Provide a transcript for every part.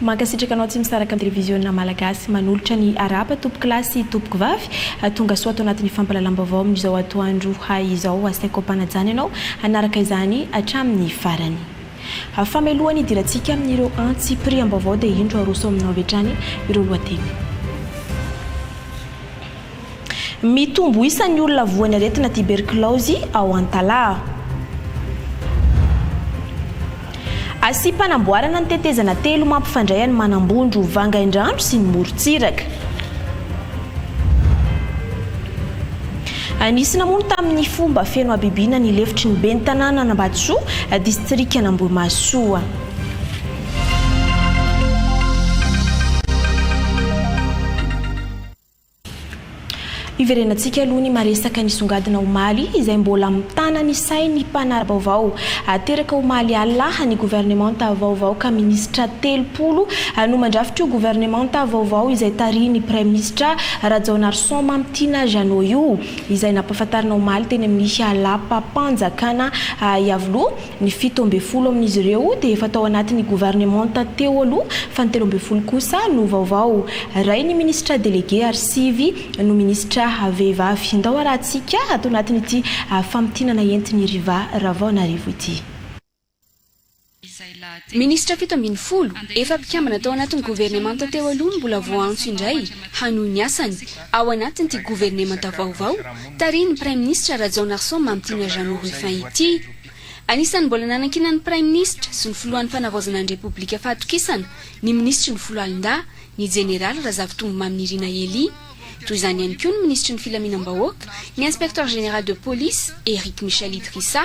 Mankasitraka anao tsy misaraka amin'ny televiziona malagasy manolotra ny arahaba tompokolahy sy tompokovavy tongasoa ato anatin'ny fampalalam-baovao amin'izao atoandro izao asaiko ampanajana ianao hanaraka izany hatramin'ny farany fameloha ny idirantsika amin'ireo antsy piriam-baovao dia indro aroso aminao avy hatrany ireo lohateny Mitombo isa ny olona voan'ny aretina tiberkilaozy ao Antalaha. Asiam-panamboarana ny tetezana telo mampifandray an'i Manambondro, Vangaindrano sy ny morontsiraka. Nisy namono tamin'ny fomba feno habibiana ny lefitry ny ben'ny tanànan'Ambatosoa, distrikan'Ambohimahasoa. Iverenantsika aloha ny maresaka nisongadina omaly izay mbola mitana ny sain'ny mpanara-baovao. Teraka omaly alina ny governemanta vaovao ka minisitra telopolo no mandrafitr'io governemanta vaovao izay tarihin'ny praiminisitra Rajaonarison Mamitiana Jeannot io izay nampahafantarina omaly teny amin'ny lapam-panjakana Iavoloha Ny fito ambin'ny folo amin'izy ireo dia efa tao anatin'ny governemanta teo aloha fa ny telo ambin'ny folo kosa no vaovao. Ray ny minisitra delege ary sivy no minisitra vehivavy. Ndao arahantsika ato anatin'ity famintinana entin'i Riva Ravaonarivo ity. Minisitra fito ambin'ny folo efa mpikambana tao anatin'ny governemanta teo aloha no mbola voaantso indray hanohy ny asany ao anatin'ity governemanta vaovao tarihin'ny praiminisitra Rajaonarison Mamitiana Jeannot Rufin ity. Anisan'ny mbola nanankinan'ny Praiminisitra sy ny Filohan'ny Fanavaozana ny Repoblika fahatokisana ny Minisitry ny Foloalindahy, ny Jeneraly Razafintombomamy Nirina Elie. Toy izany ihany koa ny Minisitry ny Filaminam-bahoaka, ny Inspecteur Général de Police, Eric Michel Idrissa,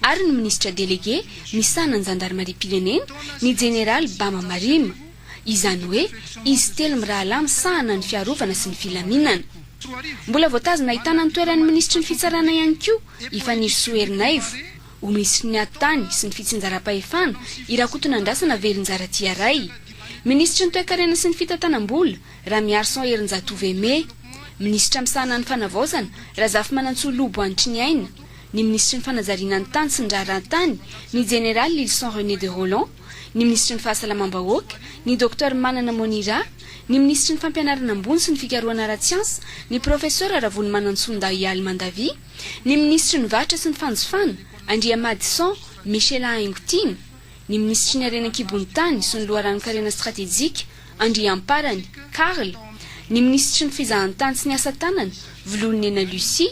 ary ny Minisitra Delege misahana ny Zandarimariam-pirenena, ny Jeneraly Bama Marima. izany hoe izy telo mirahalahy misahana ny fiarovana sy ny filaminana. Mbola voatazona ahitana ny toeran'ny minisitry ny fitsarana ihany koa i Fanirisoa Ernaivo, ho minisitry ny Atitany sy ny fitsinjaram-pahefana i Rakotonandrasana Velonjaratia Ray, minisitry ny toekarena sy ny fitantanam-bola Ramiarison Herinjatovo Aimé, minisitra misahana ny fanavaozana Razafimanantsoa Lobo Anitriniaina, ny minisitry ny fanajariana ny tany sy ny raharahan-tany, ny jeneraly Lylison René de Rolland. ny minisitry ny Fahasalamam-bahoaka, ny Docteur Manana Monira, ny minisitry ny Fampianarana ambony sy ny fikarohana ara-tsiansa, ny Profesora Ravolomanantsoa Ndahialy Mandavia, ny minisitry ny Varotra sy ny fanjifana, Andriamadison Michela Haingotiana, ny minisitry ny Harena an-kibon'ny tany sy ny loharanon-karena stratejika, Andriamparany Carl, ny minisitry ny Fizahantany sy ny Asa tanana, Volohanena Lucie,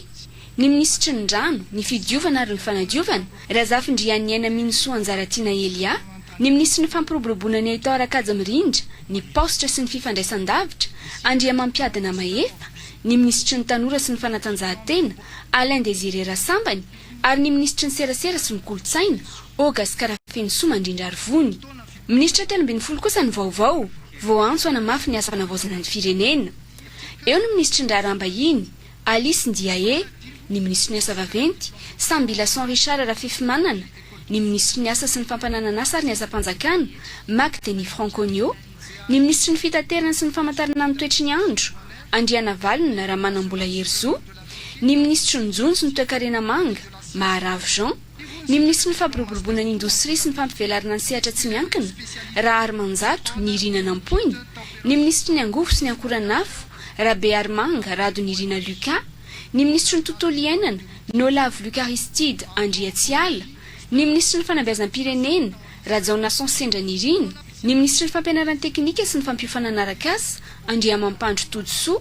ny minisitry ny Rano, ny Fidiovana ary ny Fanadiovana, Razafindrianiaina Minisoa Anjaratiana Elia, ny minisitry ny Fampiroboroboana ny Haitao Rakaja Mirindra, ny Paositra sy ny Fifandraisandavitra, Andriamampiadina Mahefa, ny minisitry ny Tanora sy ny Fanatanjahantena, Alain Désiré Rasambany, ary ny minisitry ny Serasera sy ny Kolontsaina, Ogascar Fenosoa Mandrindrarivony. Minisitra telo ambin'ny folo kosa ny vaovao, vao antso hanamafy ny asa fanavaozana ny firenena. Eo ny minisitry ny Raharaham-bahiny, Alice Ndiaye, ny minisitry ny Asa vaventy, Samby Lason Richard Rafifimanana, ny minisitry ny Asa sy ny fampananan'asa ary ny asam-panjakana, Mac Denis Franconio, ny minisitry ny Fitaterana sy ny famantarana ny toetry ny andro, Andrianavalona Ramanambola Herizo, ny minisitry ny Jonjo ny toekarena manga, Maharavo Jean. Ny minisitry ny Fampiroboroboana ny indostria sy ny fampivelarana ny sehatra tsy miankina, Raharimanjato Nirina Nampoina, ny minisitry ny Angovo sy ny ankoranafo, Rabearimanga Rado Nirina Lucas, ny minisitry ny Tontolo iainana, Nolavo Luc Aristide Andriatsiala, ny minisitry ny Fanabeazam-pirenena, Rajaonason Sendra Nirina, ny minisitry ny Fampianaran-tekinika sy ny fampiofanana arak'asa, Andriamampandry Todisoa,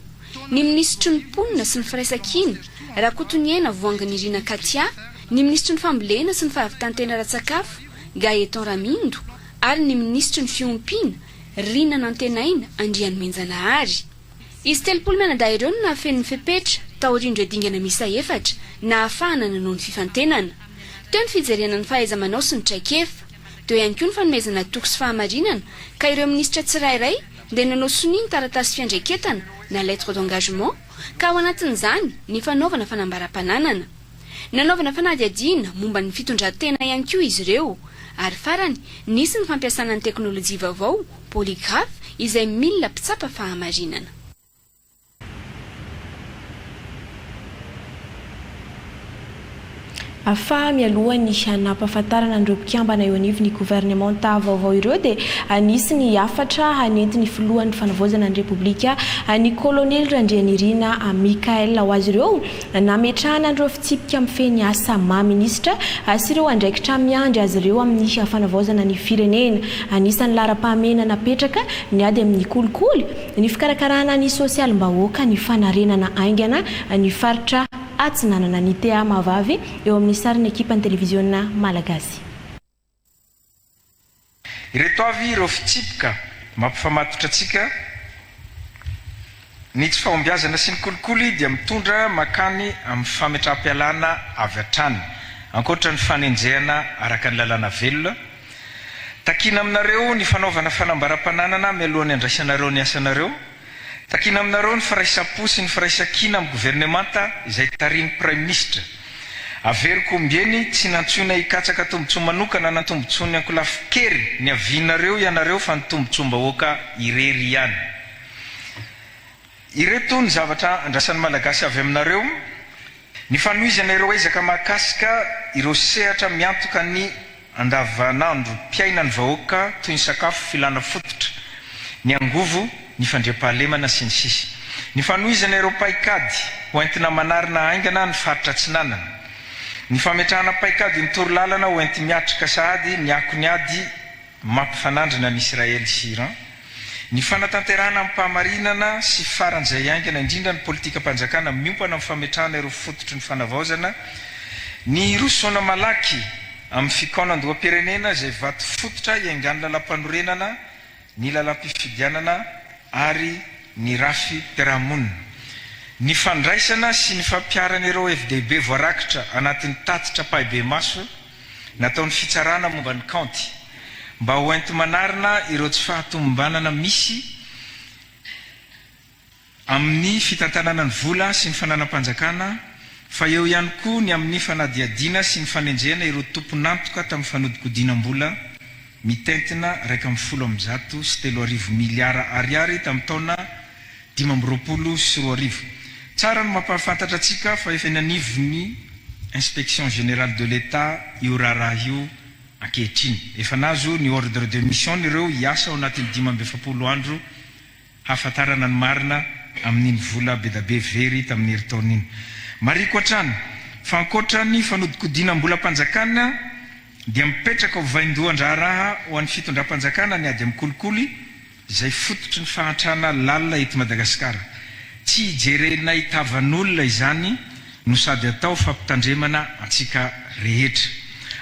ny minisitry ny Mponina sy ny Firaisankina, Rakotoniaina Voahanginirina Katia, ny minisitry ny Fambolena sy ny Fahavitan-tena ara-tsakafo, Gaëtan Ramindo, ary ny minisitry ny Fiompiana, Rina Nantenaina Andrianomenjanahary. Izy telopolo mianadahy ireo no nahafeno ny fepetra, taorian'ireo dingana miisa efatra, nahafahana nanao ny fifantenana. Teo ny fijerena ny fahaiza-manao sy ny traikefa. Teo ihany koa ny fanomezana toky sy fahamarinana ka ireo minisitra tsirairay, dia nanao sonia ny taratasy fiandraiketana na lettre d'engagement ka ao anatin'izany ny fanaovana fanambaram-pananana. Nanaovana fanadihadiana momba ny fitondran-tena ihany koa izy ireo ary farany nisy ny fampiasana ny teknolojia vaovao polygraphe izay milina mpitsapa fahamarinana. Afaha mialohan'ny hanampahafantarana an'ireo mpikambana eo anivon'ny governemanta vaovao ireo dia hanisy ny hafatra hanentin'ny filohan'ny fanavaozana ny Repoblika an'i Kolonely Randrianirina Michaël ho azy ireo nametrahana an'ireo fitsipika mifehy ny asa maha minisitra sy ireo andraikitra miandry azy ireo amin'ny fanavaozana ny firenena. Anisan'ny laharam-pahamehana napetraka ny ady amin'ny kolikoly Ny fikarakarana ny sosialim-bahoaka, ny fanarenana haingana ny faritra Atsinanana, ny tea mahavavy eo amin'ny sarin'ny ekipan'ny televiziona malagasy. Ireto avy ireo fitsipika mampifamatotra antsika, Ny tsy fahombiazana sy ny kolikoly dia mitondra mankany amin'ny fametraham-pialana avy hatrany, ankoatra ny fanenjehana araka ny lalàna velona, Takiana aminareo ny fanaovana fanambaram-pananana mialohan'ny handraisanareo ny asanareo. Takiana aminareo ny firaisam-po sy ny firaisan-kina amin'ny governemanta izay tarihin'ny Praiminisitra. Averiko ombieny, tsy nantsoina hikatsaka tombontsoa manokana na tombontsoan'ny ankolafin-kery niavianareo ianareo fa ny tombontsoam-bahoaka irery ihany. Ireto ny zavatra andrasan'ny Malagasy avy aminareo, Ny fanohizana ireo ezaka mahakasika ireo sehatra miantoka ny andavanandrom-piainan'ny vahoaka toy ny sakafo, filàna fototra, ny angovo, ny fandriampahalemana, sy ny sisa Ny fanohizana ireo paikady ho entina manarina haingana ny faritra Atsinanana, Ny fametrahana paikadin-torolalana ho enti-miatrika sahady ny akon'ny ady, mampifanandrina an'i Israely sy Iran, ny fanatanterahana amim-pahamarinana sy faran'izay haingana indrindra ny politikam-panjakana miompana amin'ny fametrahana ireo fototry ny fanavaozana, ny hirosoana malaky amin'ny fikaonandoham-pirenena izay vato fototra hiaingan'ny lalàmpanorenana, ny lalàmpifidianana ary ny rafi-piarahamonina, ny fandraisana sy ny fampiharana ireo hevi-dehibe voarakitra anatin'ny tatitra ampahibemaso, nataon'ny Fitsarana momba ny kaonty mba ho enti-manarina ireo tsy fahatomombanana misy amin'ny fitantanana ny vola sy ny fananam-panjakana fa eo ihany koa ny amin'ny fanadihadiana sy ny fanenjehana ireo tompon'antoka tamin'ny fanodikodinam-bola mitentina iraika ambin'ny folo amby zato sy telo arivo miliara Ariary tamin'ny taona dimy amby roapolo sy roa arivo. Tsara ny mampahafantatra antsika fa efa eny anivon'ny Inspection Générale de l'Etat io raharaha io ankehitriny. Efa nahazo ny ordre de mission ireo hiasa ao anatin'ny dimy amby efapolo andro hahafantarana ny marina amin'iny vola bedabe very tamin'ny herintaona iny. Marihiko hatrany fa ankoatra ny fanodikodinam-bolam-panjakana dia mipetraka ho vaindohan-draharaha ho an'ny fitondram-panjakana ny ady amin'ny kolikoly, izay fototry ny fahantrana lalina eto Madagasikara. Tsy hijerenay tavan'olona izany no sady atao fampitandremana antsika rehetra.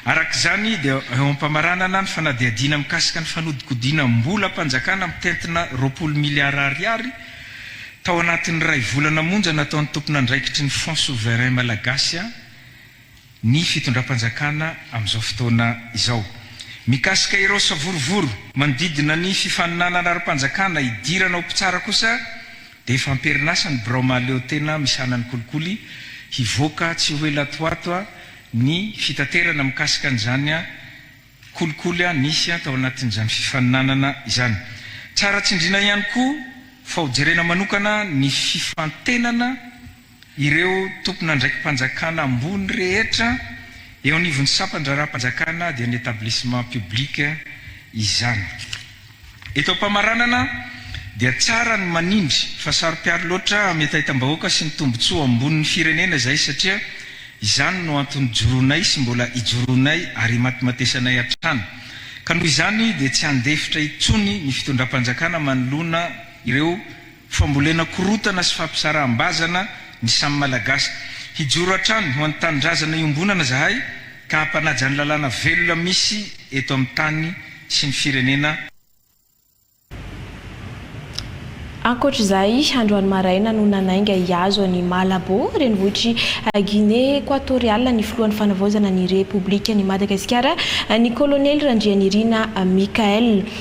Araka izany dia eo am-pamaranana ny fanadihadiana mikasika ny fanodikodinam-bolam-panjakana mitentina roapolo miliara ariary tao anatin'ny iray volana monja nataon'ny tompon'andraikitry ny Fonds Souverain Malagasy ny fitondram-panjakana amin'izao fotoana izao mikasika ireo savorovoro manodidina ny fifaninanana ara-panjakana hidirana ho mpitsara kosa dia efa am-perinasa ny birao mahaleotena misahana ny kolikoly hivoaka tsy ho ela toato ny fitaterana mikasika an'izany kolikoly nisy tao anatin'izany fifaninanana izany tsara tsindriana ihany koa fa ho jerena manokana ny fifantenana Ireo tompon'andraiki-panjakana ambony rehetra eo anivon'ny sampan-draharaham-panjakana dia ny établissement public izany. Eto am-pamaranana dia tsara ny manindry fa saro-piaro loatra amin'ny hetahetam-bahoaka sy ny tombontsoa ambonin'ny firenena izay satria izany no antony joroanay sy mbola ijoroanay ary imatimatesanay hatrany ka noho izany dia tsy handefitra intsony ny fitondram-panjakana manoloana ireo Fambolena korotana sy fampisaraham-bazana ny samy Malagasy. Hijoro hatrany ho an'ny tanindrazana iombonana zahay ka hampanaja ny lalàna velona misy eto amin'ny tany sy ny firenena. Ankoatra izay, androany maraina no nanainga hihazo an'i Malabo, renivohitr'i Guinée Ekoatoriala ny filohan'ny Fanavaozana ny Repoblikan'i Madagasikara, ny kolonely Randrianirina Michaël.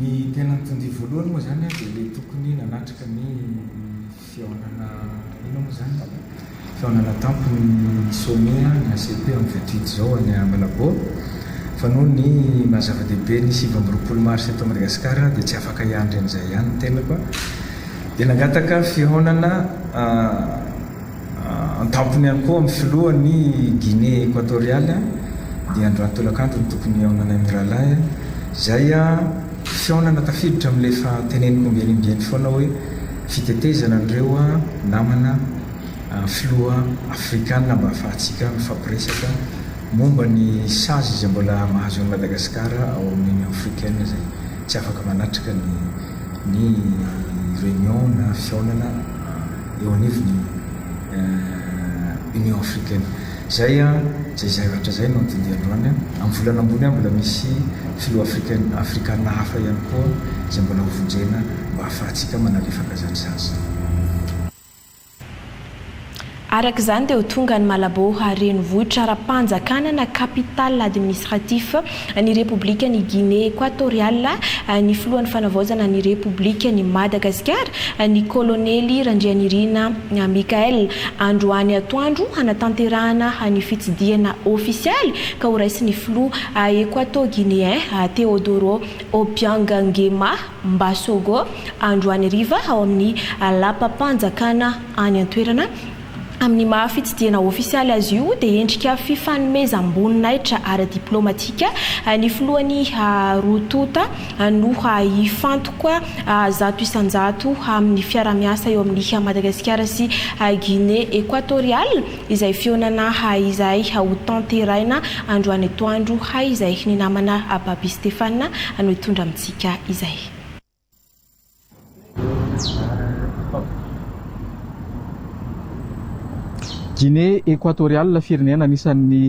Ny tena mitondrìa voalohany moa izany dia ilay tokony nanatrika ny fihaonana inona moa izany? fihaonana tampony ny sommet ny ACP amin'ny vingt huit izao any Malabo fa noho ny maha zava-dehibe ny sivy amby roapolo mars eto Madagasikara dia tsy afaka hiandry an'izay ihany ny tenako dia nangataka fihaonana An-tampony ihany koa amin'ny filoha ny Guinée Equatoriale dia androany tolakandro no tokony hihaonana io mirahalahy io. Izay fihaonana tafiditra amin'ilay efa teneniko ombieny ombieny foana hoe fitetezana an'ireo namana filoha afrikana mba hahafahantsika mifampiresaka momba ny sazy izay mbola mahazo an'i Madagascar ao amin'ny Union Africaine izay tsy afaka manatrika ny ny réunion na fihaonana eo anivon'ny Union africaine. Izay izay zavatra izay no andiandia androany. Amin'ny volana ambony mbola misy filoha africaine afrikana hafa ihany koa izay mbola ho vonjena mba hahafahantsika manalefaka izany sazy izany. Araka izany dia ho tonga any Malabo renivohitra ara-panjakana na capital administratif Ny Repoblikan' i Ginea Ekoatoriala, ny Filohan' ny Fanavaozana ny Repoblikan' i Madagasikara, ny Kôlônely Randrianirina Michaël, androany atoandro hanatanterahana ny fitsidihana ôfisialy ka horaisin' ny Filoha Ekoatô-Gineain Teodoro Obiang Nguema Mbasogo androany hariva ao amin' ny Lapam-panjakana any an-toerana Amin'ny maha fitsidihana ofisialy azy io dia endrika fifanomezam-boninahitra ara-diplaomatika ny filohan'i Rututa no hifantoka zato isan-jato amin'ny fiaraha-miasa eo amin'i Madagasikara sy Guinée Equatoriale izay fihaonana izay hotanteraina androany atoandro izay ny namana Baby Stéphane no hitondra amintsika izay. Ginea Ekoatoriala, firenena anisan'ny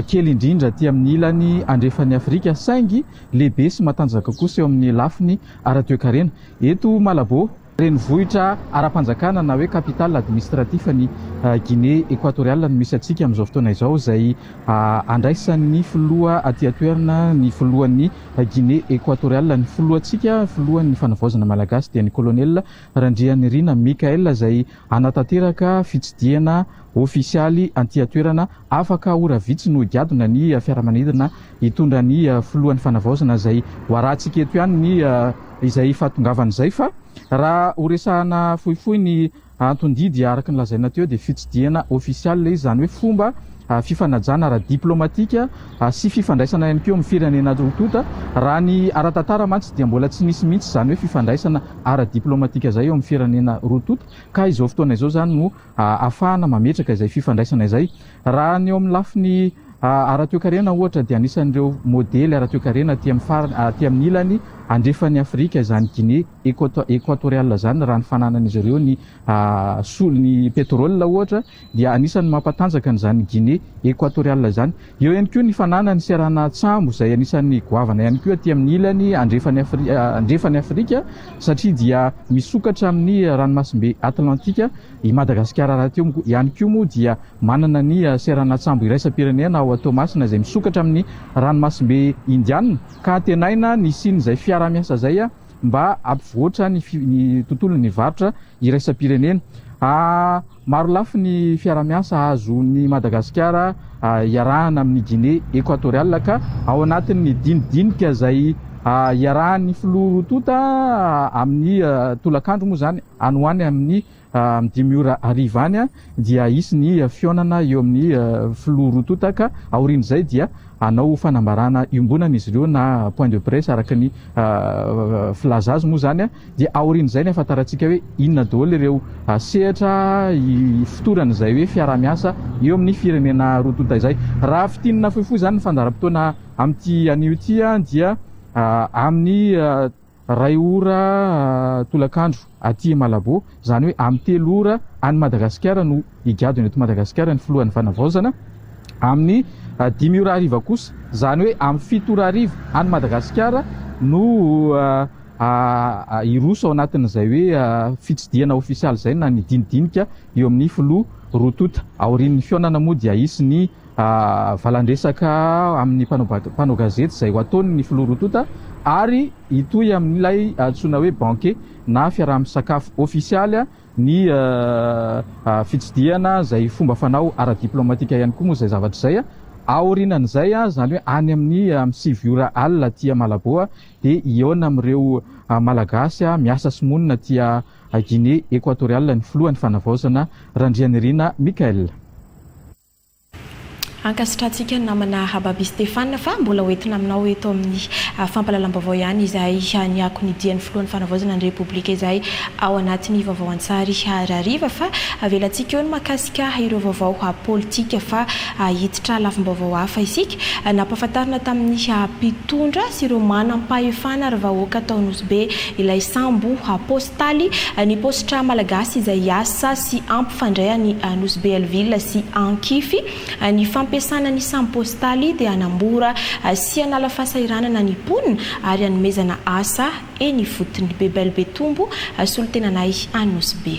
kely indrindra aty amin'ny ilany andrefan'i Afrika, saingy lehibe sy matanjaka kosa eo amin'ny lafiny ara-toekarena. Eto Malabo, renivohitra ara-panjakana na hoe capital administratif ny Ginea Ekoatoriala no misy antsika amin'izao fotoana izao, izay andraisan'ny filoha aty an-toerana, ny filohan'ny. A Guinée Equatoriale, ny filohantsika, filohan'ny Fanavaozana Malagasy dia ny Colonel Randrianirina Michael izay hanatanteraka fitsidihana ofisialy antian-toerana afaka ora vitsy no higadona ny fiaramanidina hitondra ny filohan'ny Fanavaozana izay hoarahantsika eto ihany ny izay fahatongavany izay fa raha horesahana fohifohy ny Anton-didy araka ny lazaina teo dia fitsidihana ofisialy izy, izany hoe fomba fifanajana ara-diplaomatika sy fifandraisana ihany koa eo amin'ny firenena roa tonta. Raha ny ara-tantara mantsy dia mbola tsy nisy mihitsy izany hoe fifandraisana ara-diplaomatika izay eo amin'ny firenena roa tonta ka izao fotoana izao izany no ahafahana mametraka izay fifandraisana izay. Raha ny eo amin'ny lafiny ara-toekarena ohatra dia anisan'ireo modely ara-toekarena aty amin'ny farany, aty amin'ny ilany andrefan'i Afrika izany Guinée. Ekoatoriala izany raha ny fananan'izy ireo ny solon'ny petrole ohatra dia anisan'ny mampatanjaka an'izany Guinée ekoatoriala izany. Eo ihany koa ny fananany seranan-tsambo izay anisan'ny goavana ihany koa aty amin'ny ilany andrefan'i Afrika satria dia misokatra amin'ny ranomasimbe Atlantika i Madagasikara rahateo ihany koa moa dia manana ny seranan-tsambo iraisam-pirenena ao Toamasina izay misokatra amin'ny ranomasimbe Indiana ka antenaina ny hisian'izay fiaraha-miasa izay mba hampivoatra ny ny tontolon'ny varotra iraisam-pirenena. Marolafy ny fiarahamiasa hahazoan'i Madagasikara iarahana amin'i Guinée Equatoriale ka ao anatin'ny dinidinika izay iarahan'ny filoha roa tonta amin'ny tolakandro moa izany any ho any amin'ny Amin'ny dimy ora hariva any dia hisy ny fihaonana eo amin'ny filoha roa tonta ka aorian'izay dia hanao fanambarana iombonana izy ireo na point de presse araka ny filaza azy moa izany dia aorian'izay ny ahafantarantsika hoe inona daholo ireo sehatra ifotorany izay hoe fiaraha-miasa eo amin'ny firenena roa tonta izay. Raha fintinina fohifohy izany ny fandaharam-potoana amin'ity anio ity dia amin'ny Iray ora tolakandro aty Malabo, izany hoe amin'ny telo ora any Madagasikara no higadona eto Madagasikara ny filohan'ny Fanavaozana. Amin'ny dimy ora hariva kosa, izany hoe amin'ny fito ora hariva any Madagasikara no hiroso ao anatin'izay hoe fitsidihana ofisialy izay na ny dinidinika eo amin'ny filoha roa tonta. Aorian'ny fihaonana moa dia hisy ny valandresaka amin'ny mpanao gazety izay ho ataony ny filoha roa tonta ary hitohy amin'ilay antsoina hoe banquet na fiaraha-misakafo ofisialy ny fitsidihana izay fomba fanao ara-diplaomatika ihany koa moa izay zavatra izay. Aorianan'izay, izany hoe any amin'ny sivy ora alina aty Malabo dia hihaona amin'ireo Malagasy miasa sy monina aty Guinée Equatoriale ny filohan'ny Fanavaozana Randrianirina Michaël. Ankasitrantsika ny namana Rababy Stéphane fa mbola ho entina aminao eto amin'ny fampahalalam-baovao ihany izay niako ny dian'ny filohan'ny Fanavaozana ny Repoblika izay ao anatin'ny vaovao an-tsary hariva fa avelantsika eo ny mahakasika ireo vaovao politika fa hiditra lafim-baovao hafa isika. Nampahafantarina tamin'ny mpitondra sy ireo manam-pahefana ary vahoaka tao Nosy Be ilay sambo Taly, ny paositra malagasy izay hiasa sy hampifandray an'i Nosy Be Alville sy Ankify. Ny fampiasana ny sampy paositaly dia hanambora sy hanala fahasahiranana ny mponina ary hanomezana asa eny ifotony. Be Belle Be Tombo, solontenanay any Nosy Be.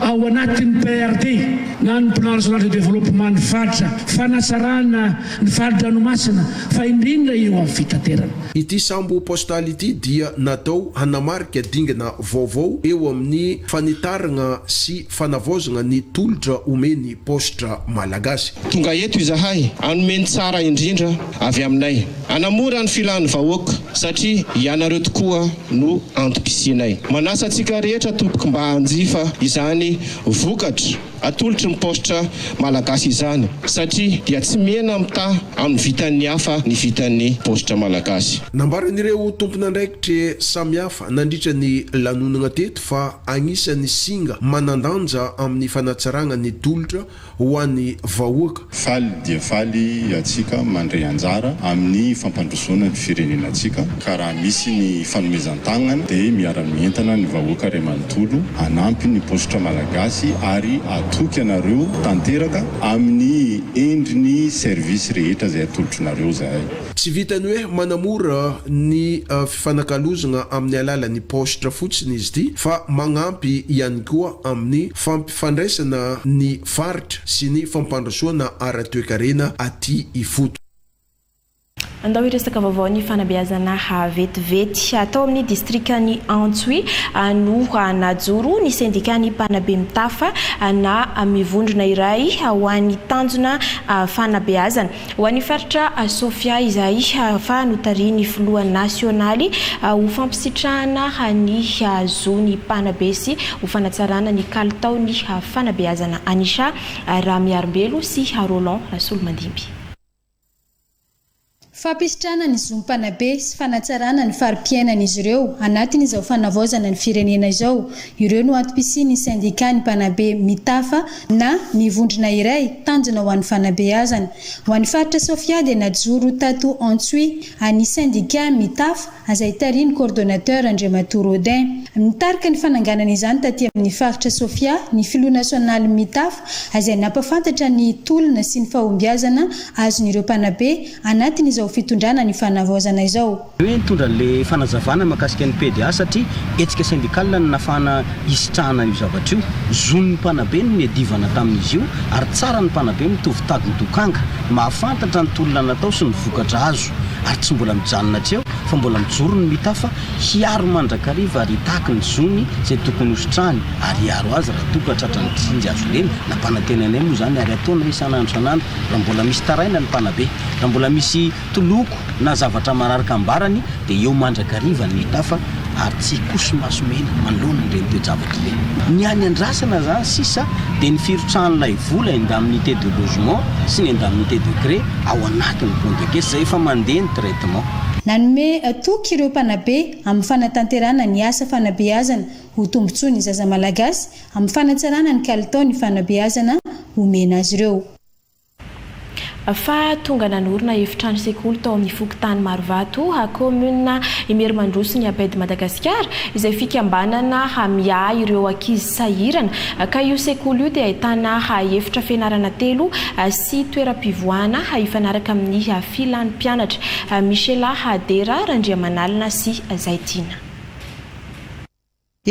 ao anatin'ny PRD na ny Plan Régional de Développement ny faritra fanatsarana ny fari-dranomasina fa indrindra eo amin'ny fitaterana. Ity sambo postal ity dia natao hanamarika dingana vaovao eo amin'ny fanitaragna sy fanavaozagna ny tolotra omen'ny paositra malagasy. Tonga eto izahay hanome ny tsara indrindra avy aminay. Hanamora ny filan'ny vahoaka satria ianareo tokoa no antom-pisianay. Manasa antsika rehetra tompoko mba hanjifa izany vokatra atolotry ny paositra malagasy izany satria dia tsy mihena mitaha amin'ny vitan'ny hafa ny vitan'ny paositra malagasy. Nambaran'ireo tompon'andraikitra samihafa nandritra ny lanonana teto fa anisan'ny singa manan-danja amin'ny fanatsarana ny tolotra ho an'ny vahoaka. Faly dia faly iatsika mandray anjara amin'ny fampandrosoana ny firenenatsika ka raha misy ny fanomezan-tagnana dia miara-mientana ny vahoaka ray manontolo hanampy ny paositra malagasy ary hatoky anareo tanteraka amin'ny endriny service rehetra izay atolotrinareo izahay. Tsy vitan'ny hoe manamora ny fifanakalozagna amin'ny alalan'ny paositra fotsiny izy ity fa magnampy ihany koa amin'ny fandraisana ny faritra sy ny fampandrosoana ara-toekarena aty ifoto. Andao hiresaka vaovao ny fanabeazana vetivety. Tao amin'ny distrikan'i Antsohihy no najoro ny sendikan'ny mpanabe mitafa na mivondrona iray ho an'ny tanjona fanabeazana. Ho an'ny faritra Sofia izay fa notarihin'ny filoha nasionaly ho fampisitrahana ny zon'ny mpanabe sy ho fanatsarana ny kalitaon'ny fanabeazana Anisha Ramiarimbelo sy Roland Rasolomandimby. Fampisitrahana ny zon'ny mpanabe sy fanatsarana ny fari-piainan'izy ireo anatin'izao fanavaozana ny firenena izao, ireo no antom-pisian'ny sendikàn'ny mpanabe Mitafa na ny vondrona iray tanjona ho an'ny fanabeazana. Ho an'ny faritra Sofia dia najoro tato Antsohihy an'ny sendika Mitaf azay tarihin'ny coordonnateur Andriamatoa Rodin. Nitarika ny fananganana izany taty amin'ny faritra Sofia ny filoha nasionalin'ny Mitaf azay nampafantatra ny tolona sy ny fahombiazana azon'ireo mpanabe anatin'izao fitondrana ny fanavaozana izao. Hoe nitondra le fanazavana makasika ny PDA satria hetsika sendikala ny nafahana hisitrahana io zavatra io. Zon'ny mpanabe ny niadivana tamin'izy io ary tsara ny mpanabe mitovy tady ny dokanga. Mahafantatra ny tolona natao sy ny vokatra azo ary tsy mbola mijanona hatreo fa mbola mijoro ny mitafa hiaro mandrakariva ary hitaky ny zony izay tokony hositrahany ary hiaro azy raha toa ka tratran'ny tsinjo azo lena. Nampanantenainay moa izany ary ataonay isan'andro isan'andro raha mbola misy taraina ny mpanabe. Raha mbola misy. Toloko na zavatra mararaka ambarany dia eo mandrakariva ny tafa ary tsy hikoso maso mena manoloana ireny toe-javatra ireny. Ny any andrasana izany sisa dia ny firotsahan'ilay vola indemnité de logement sy ny indemnité de cré ao anatin'ny compte de caisse izay efa mandeha ny traitement. Nanome toky ireo mpanabe amin'ny fanatanterahana ny asa fanabeazana ho tombontsoa ny zaza malagasy amin'ny fanatsarana ny kalitaon'ny fanabeazana omena azy ireo. fa tonga nanorina efitrano sekoly tao amin'ny fokontany Marovato, kaominina Imerimandroso ny APED Madagasikara, izay fikambanana miahy ireo ankizy sahirana, ka io sekoly io dia ahitana efitra fianarana telo sy toeram-pivoahana hifanaraka amin'ny filan'ny mpianatra. Michela Dera, Randriamanalina sy Zaitiana.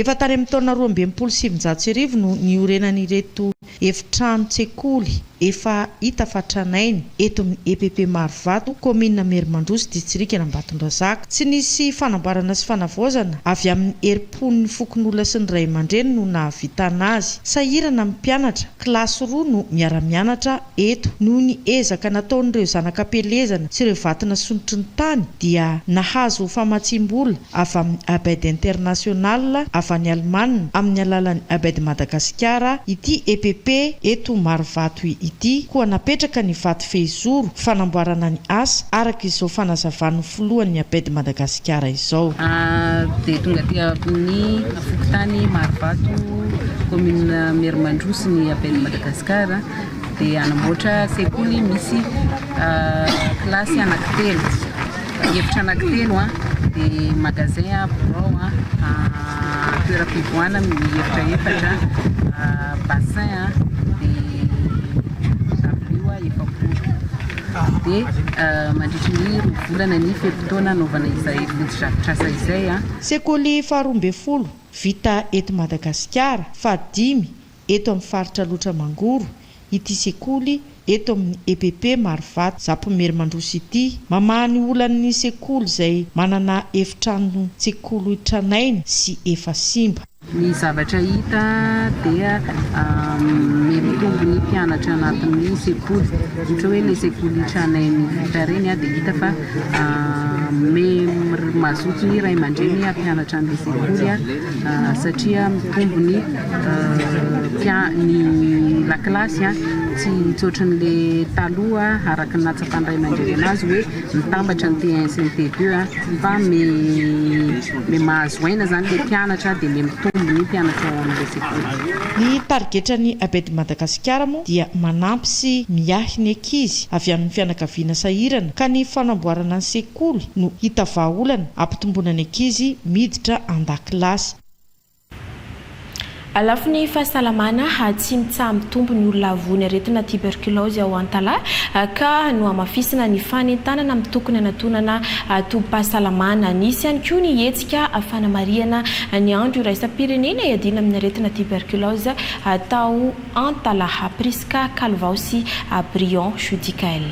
Efa tany amin'ny taona roa amby enimpolo sy sivinjato sy arivo no niorenan'ireto efitranon-tsekoly efa hita fa tranainy, eto amin'ny EPP Marovato, kaominina Merimandroso, distrikan'Ambatondrazaka. Tsy nisy fanambarana sy fanavaozana avy amin'ny herim-pon'ny fokonolona sy ny ray aman-dreny no nahavitana azy. Sahirana ny mpianatra, kilasy roa no miara-mianatra Eto, noho ny ezaka nataon'ireo zanak'am-pielezana sy ireo vato nasondrotry ny tany, dia nahazo famatsiam-bola avy amin'ny Abed International avy any Alemana amin'ny alalan'ny Abed Madagasikara ity EPP eto Marovato ity, koa napetraka ny vato fehizoro fanamboarana ny asa, araka izao fanazavan'ny filohan'ny Abed Madagasikara izao. Dia tonga aty amin'ny fokontany Marovato, commune Merimandroso ny Abed Madagasikara. dia hanamboatra sekoly misy kilasy anankitelo, efitra anankitelo an, dia magasin an, birao an, toeram-pivoahana miefitra efatra, bassin an, dia dabilio efapolo. Dia mandritry ny roa volana ny fe-potoana hanaovana izay fotodrafitrasa izay an. Sekoly faharoa ambin'ny folo vita eto Madagasikara, fahadimy eto amin'ny faritra Alotra Mangoro ity sekoly eto amin'ny EPP Marovato Zapomerimandroso ity. Mamaha ny olan'ny sekoly izay manana efitrano tsekolo tranainy sy efa simba. Ny zavatra hita dia miha-mitombo ny mpianatra anatin'ny sekoly. Ohatra hoe ilay sekoly tranainy vita ireny dia hita fa miha-mazoto ny ray aman-dreny hampianatra an'ilay sekoly. satria mitombo ny tia ny lakilasy tsy tsotra anle taloha araka ny nahatsapan ray aman-dreny anazy hoe mitambatra ny T1 sy ny T2 fa me mahazo aina zany le mpianatra de me mitombo ny mpianatra ao amle sekoly. Ny tarigetra ny Abed Madagasikara moa dia manampy sy miahy ny ankizy avy amin'ny fianakaviana sahirana ka ny fanamboarana ny sekoly kolikoly no hita vahaolana hampitomboana ny ankizy miditra an-dakilasy. Lafiny fahasalamana, tsy mitsaha-mitombo ny olona voan'ny aretina tiberkilaozy ao Antalaha ka nohamafisina ny fanentanana amin'ny tokony hanatonana tobim-pahasalamana. Nisy ihany koa ny hetsika fanamarihana ny andro iraisam-pirenena iadiana amin'ny aretina tiberkilaozy tao Antalaha. Prisca Calvao sy Briand Judicaël.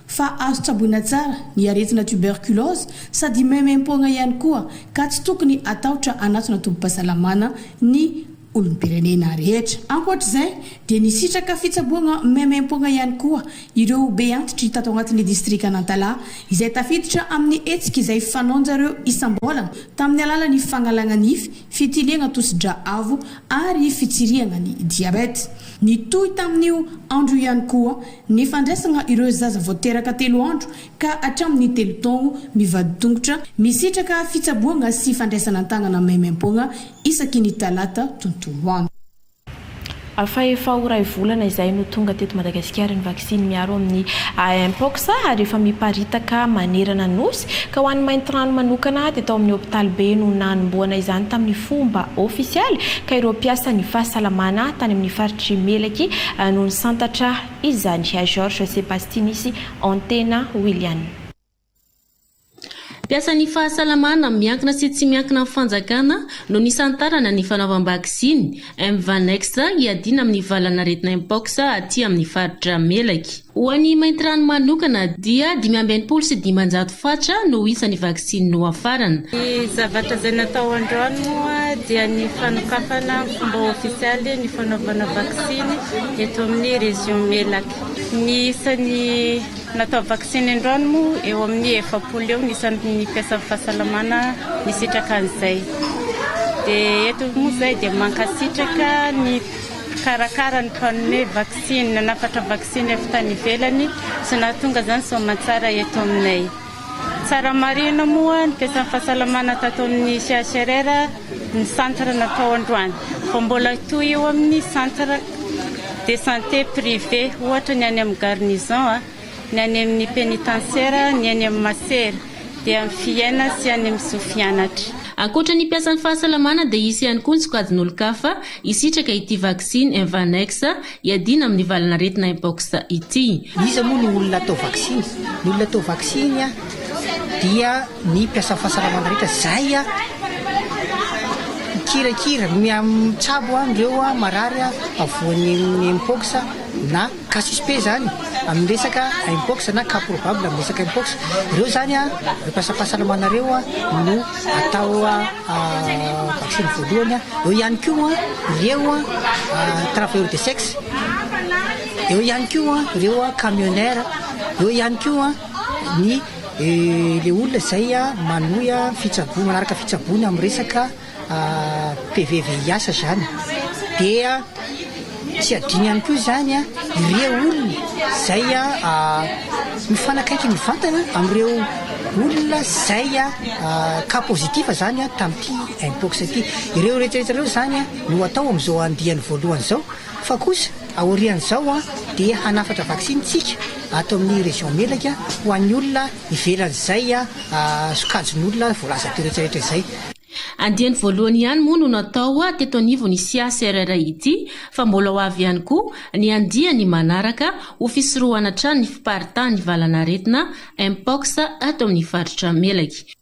fa azo tsaboina tsara ny aretina tuberculose sady maimaim-poagna ihany koa ka tsy tokony hatahotra hanatona tobim-pahasalamana ny olom-pirenena rehetra. Ankoatr'izay dia nisitraka fitsaboagna maimaim-poagna ihany koa ireo be antitry tato agnatin'ny distrikan'Antalaha izay tafiditra amin'ny hetsika izay fanaonjareo isam-bolagna tamin'ny alalan'ny fagnalagna nify fitiliana tosi-drà avo ary fitsirihana ny diabety. Nitohy tamin'io andro io ihany koa ny fandraisana ireo zaza vao teraka telo andro ka hatramin'ny telo taogno mivadi-tongotra, misitraka fitsaboana sy fandraisana an-tanana maimaim-poagna isaky ny talata tontolo andro. Fa efa ho iray volana izay no tonga teto Madagasikara ny vaksiny miaro amin'ny AMpox ary efa miparitaka manerana Nosy, ka ho an'ny Maintirano manokana dia tao amin'ny hopitalibe no nanombohana izany tamin'ny fomba ofisialy ka ireo mpiasan'ny fahasalamana tany amin'ny faritr'i Melaky no nisantatra izany. Georges Sebastinis, Antena Willian. Mpiasan'ny fahasalamana miankina sy tsy miankina amin'ny fanjakana no nisantarana ny fanaovam-baksiny Mvanex hiadiana amin'ny valanaretina Mpox aty amin'ny faritra Melaky. Ho an'i Maintirano manokana dia dimy amby enimpolo sy dimanjato fatra no isa ny vaksiny nohafarana. Ny zavatra izay natao androany moa dia ny fanokafana ny fomba ofisialy ny fanaovana vaksiny eto amin'ny Région Melaky. Ny isan'ny. Natao vaksiny androany moa eo amin'ny efapolo eo ny isan'ny mpiasan'ny fahasalamana nisitraka an'izay. Dia eto moa izay dia mankasitraka ny mpikarakara ny mpanome vaksiny, nanafatra vaksiny avy tany ivelany sy nahatonga izany soamantsara eto aminay. Tsara marihina moa ny fesan'ny fahasalamana tato amin'ny CHRR ny centre natao androany, fa mbola hitohy eo amin'ny centre de santé privé, ohatra ny any amin'ny garnison, ny any amin'ny penitentiaire, ny eny amin'ny Masera, dia any Fiaina sy any amin'ny Sofianatra. Ankoatra ny mpiasan'ny fahasalamana dia hisy ihany koa ny sokajin'olon-kafa hisitraka ity vaksiny Invanex Iadiana amin'ny valan'aretina Mpox ity. Iza moa no olona atao vaksiny? Ny olona atao vaksiny dia ny mpiasan'ny fahasalamana rehetra izay mikirakira, mitsabo an'ireo marary voan'ny Mpox na cas suspect izany amin'ny resaka Mpox na cas probable amin'ny resaka Mpox. Ireo izany ireo mpiasam-pahasalamana ireo no. atao vaksiny voalohany a, eo ihany koa ireo travailleurs de sexe, eo ihany koa ireo camionnaires, eo ihany koa ny le olona izay manohy fitsaboana manaraka fitsaboana amin'ny resaka PVVIH zany dia. Tsy adino ihany koa izany ireo olona izay mifanakaiky mivantana amin'ireo olona izay cas positif izany tamin'ity Mpox ity. Ireo rehetrarehetra ireo izany no atao amin'izao andiany voalohany izao fa kosa aorian'izao dia hanafatra vaksiny isika ato amin'ny Région Melaka ho an'ny olona ivelan'izay sokajin'olona voalaza teo rehetrarehetra izay. Andiany voalohany ihany moa no natao teto anivon'ny CACRR ity fa mbola ho avy ihany koa ny andiany manaraka ho fisorohana hatrany ny fiparitahan'ny valan'aretina Mpox ato amin'ny faritra Melaky.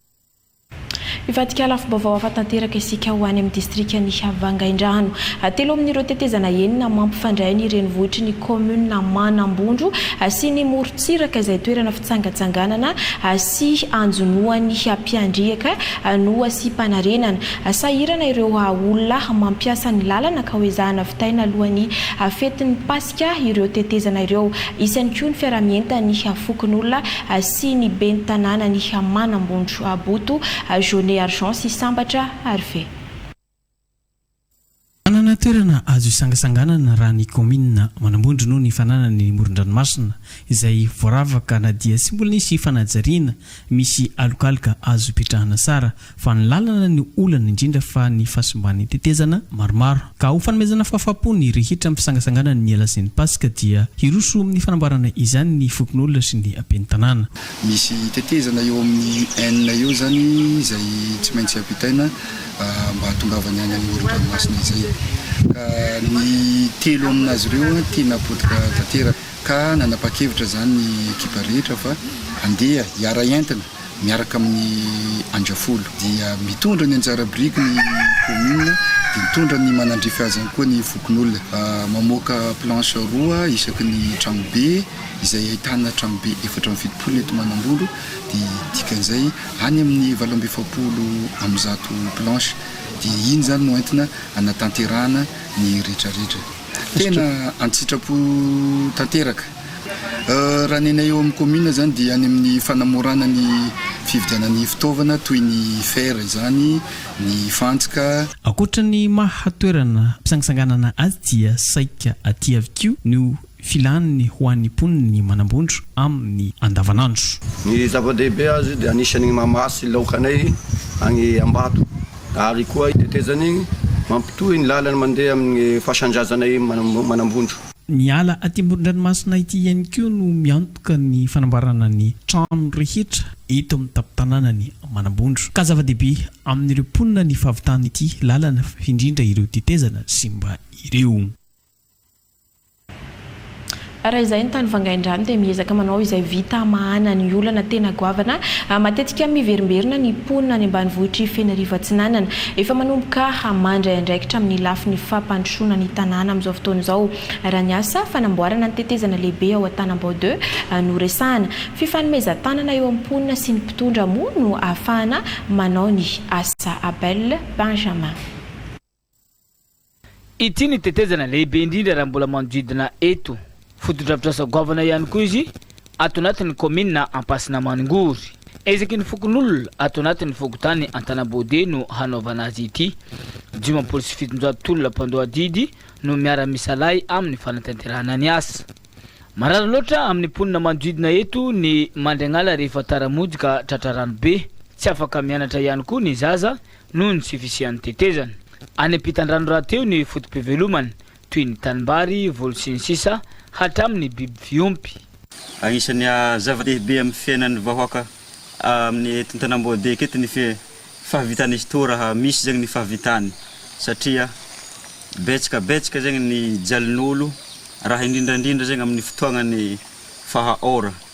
Hivadika lafim-baovao hafa tanteraka isika ho any amin'ny distrikan'i Vangaindrano. Telo amin'ireo tetezana enina mampifandray ny renivohitry ny kaominina Manambondro sy ny morontsiraka izay toerana fitsangatsanganana sy anjonoan'ny mpiandriaka Anoa sy Panarenana. Sahirana ireo olona mampiasa ny lalana ka ho ezahana vitaina alohan'ny fetin'ny Paska ireo tetezana ireo. Hisy ihany koa ny fiaraha-mientan'ny fokonolona sy ny ben'ny tanànan'i Manambontro Boto, Jaunet Argent sy Sambatra, Arve. Manana toerana azo hisangasanganana raha ny kaominina manambondro noho ny fananany ny moron-dranomasina izay voaravaka na dia tsy mbola nisy fanajariana misy alokaloka azo ipetrahana tsara fa ny lalana no olana indrindra fa ny fahasimban'ny tetezana maromaro ka ho fanomezana fahafaham-po ny rehetra amin'ny fisangasanganan'ny alasin'ny paska dia hiroso amin'ny fanamboarana izany ny fokonolona sy ny ben'ny tanàna. Misy tetezana eo amin'ny Ain eo izany izay tsy maintsy ampitaina mba hahatongavany any amin'ny moron-dranomasina izay. Ka ny telo amin'azy ireo tiana potika tanteraka. Ka nanapa-kevitra izany ny ekipa rehetra fa handeha hiara-hientina miaraka amin'ny Andrafolo. Dia mitondra ny anjara biriky ny kaominina, dia mitondra ny manandrify azy ihany koa ny fokonolona. Mamoaka planche roa isaky ny tranobe. izay ahitana tranobe efatra amby fitopolo eto Manambolo, dia dikan'izay any amin'ny valo amby efapolo amby zato planches, dia iny izany no entina hanatanterahana ny retraretra. Tena an-tsitrapo tanteraka. Raha ny anay eo amin'ny kaominina izany dia any amin'ny fanamorana ny fividianan'ny fitaovana toy ny fer izany, ny fantsika, Ankoatra ny maha toerana mpisangisanganana azy dia saika aty avy koa no filàny ho an'ny mponiny ny manambondro amin'ny andavanandro. Ny zava-dehibe azy dia anisan'ny mahamasy laokanay any Ambato ary koa tetezan'ny mampitohy ny làlana mandeha amin'ny fasan-drazanay manambondro. Ny ala aty amoron-dranomasina ity ihany koa no miantoka ny fanamboarana ny trano rehetra eto amin'ny tampon-tanànan'i Manambondro ka zava-dehibe amin'ireo mponina ny fahavitana ity làlana indrindra ireo tetezana simba ireo. Raha izay ny tany vangain-drano dia miezaka manao izay vita hamahana ny olana tena goavana matetika miverimberina ny mponina any ambanivohitr'i Fenarivo Atsinanana. Efa manomboka hamandry andraikitra amin'ny lafiny fampandrosoana ny tanàna amin'izao fotoana izao raha ny asa fanamboarana ny tetezana lehibe ao Antanambao deux no resahana. Fifanomezan-tanana eo amin'ny mponina sy ny mpitondra moa no ahafahana manao ny asa. Abel Benjamin. Ity ny tetezana lehibe indrindra raha mbola manodidina eto. Fotodrafitrasa goavana ihany koa izy ato anatin'ny kaominina Ampasinamaningory. Ezaky ny fokonolona ato anatin'ny fokontany Antanambode no hanaovana azy ity. Dimampolo sy fitonjato tolona mpandoa adidy no miara-misalahy amin'ny fanatanterahana ny asa. Marary loatra amin'ny mponina manodidina eto ny mandry agn'ala rehefa tara-monjy ka tratra rano be. Tsy afaka mianatra ihany koa ny zaza noho ny tsy fisian'ny tetezana. Any am-pitandrano rahateo ny foto-pivelomany, toy ny tanimbary, voly sy ny sisa, hatramin'ny biby fiompy. Anisan'ny zava-dehibe amin'ny fiainan'ny vahoaka amin'ny eto an-tanàm-boadika eto ny fahavitan'izy toa raha misy zegny ny fahavitany satria betsaka betsaka zegny ny jalin'olo raha indrindra indrindra zegny amin'ny fotoagnan'ny fahaora.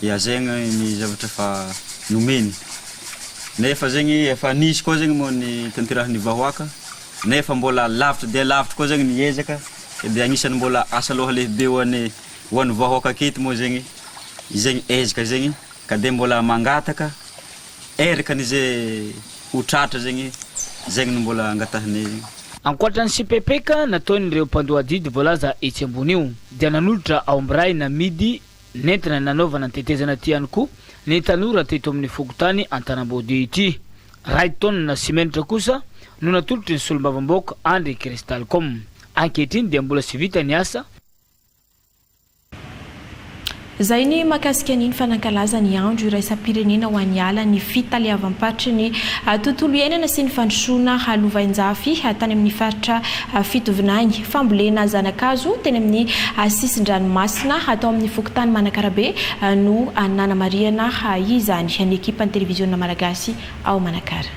hihazaina ny zavatra efa nomeny. Nefa zegny efa nisy koa zegny moa ny tanterahin'ny vahoaka, nefa mbola lavitra dia lavitra koa zegny ny ezaka, dia agnisan'ny mbola asa loha lehibe ho an'ny ho an'ny vahoaka aketo moa zegny izegny ezaka zegny, ka dia mbola mangataka erakan'izay ho tratra zegny, zegny no mbola angatahinay zegny. Ankoatra ny sipepeka nataon'ireo mpandoa adidy voalaza etsy ambony io, dia nanolotra aomby ray namidy Nentina nanaovana ny tetezana ity ihany koa ny tanora teto amin'ny fokontany Antanambodihy ity. Iray taonina simenitra kosa no natolotry ny solombavambaoka Andry Christalcom. Ankehitriny dia mbola tsy vita ny asa. Izay ny mahakasika ny ny fanankalaza ny andro iraisam-pirenena ho an'ny ala, ny fitaleavam-paritry ny tontolo iainana sy ny fandrosoana halovain-jafy tany amin'ny faritra fitovinany. Fambolena zana-kazo teny amin'ny sisin-dranomasina atao amin'ny fokontany Manakarabe no nanamarihana izany ny ekipan'ny televiziona malagasy ao Manakara.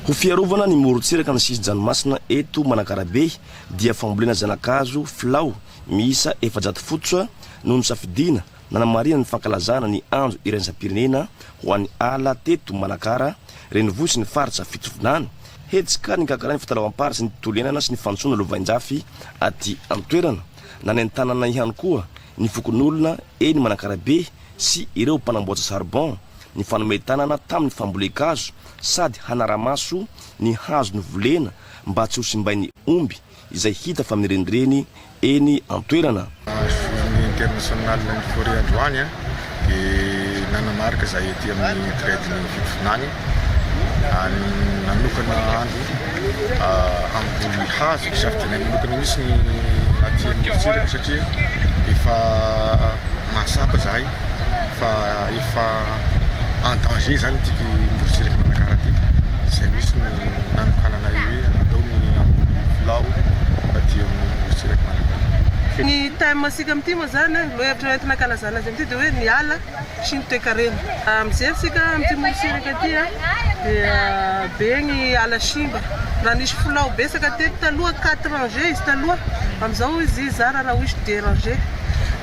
Ho fiarovana ny morontsiraka ny sisin-dranomasina eto Manakarabe dia fambolena zana-kazo filao miisa efajato fototra no nosafidiana Nanamarihana ny fankalazana ny andro iraisam-pirenena ho an'ny ala teto Manakara renivohitry ny faritra Fitovinany, hetsika nikakarain'ny fitalaovam-pary sy ny tontolo iainana sy ny fandrosoana lovainjafy aty an-toerana. Nanentanana ihany koa ny fokonolona eny Manakarabe sy ireo mpanamboatra charbon ny fanome tanana tamin'ny fambolen-kazo sady hanara-maso ny hazo novolena mba tsy ho simbain'ny omby izay hita fa mirenireny eny an-toerana. Journée internationale ny forêt androany dia nanamarika izay aty amin'ny Thread ny Fitondrana any nanokana andro hamboly hazo hisafidianay manokana mihitsy ny aty amin'ny Fijeriko satria efa mahatsapa izahay. fa efa en danger zany ity morontsiraka Manakara ity izay misy ny nanokanana io hoe atao ny hamboly filao aty amin'ny morontsiraka Manakara. Ny thème antsika amin'ity moa izany, ny lohahevitra entina hankalazana azy amin'ity dia hoe ny ala sy ny toekarena. Mijery isika amin'ity morontsiraka ity dia be ny ala simba, raha nisy filao betsaka teto taloha quatre rangées izy taloha, amin'izao izy zara raha oizy deux rangées.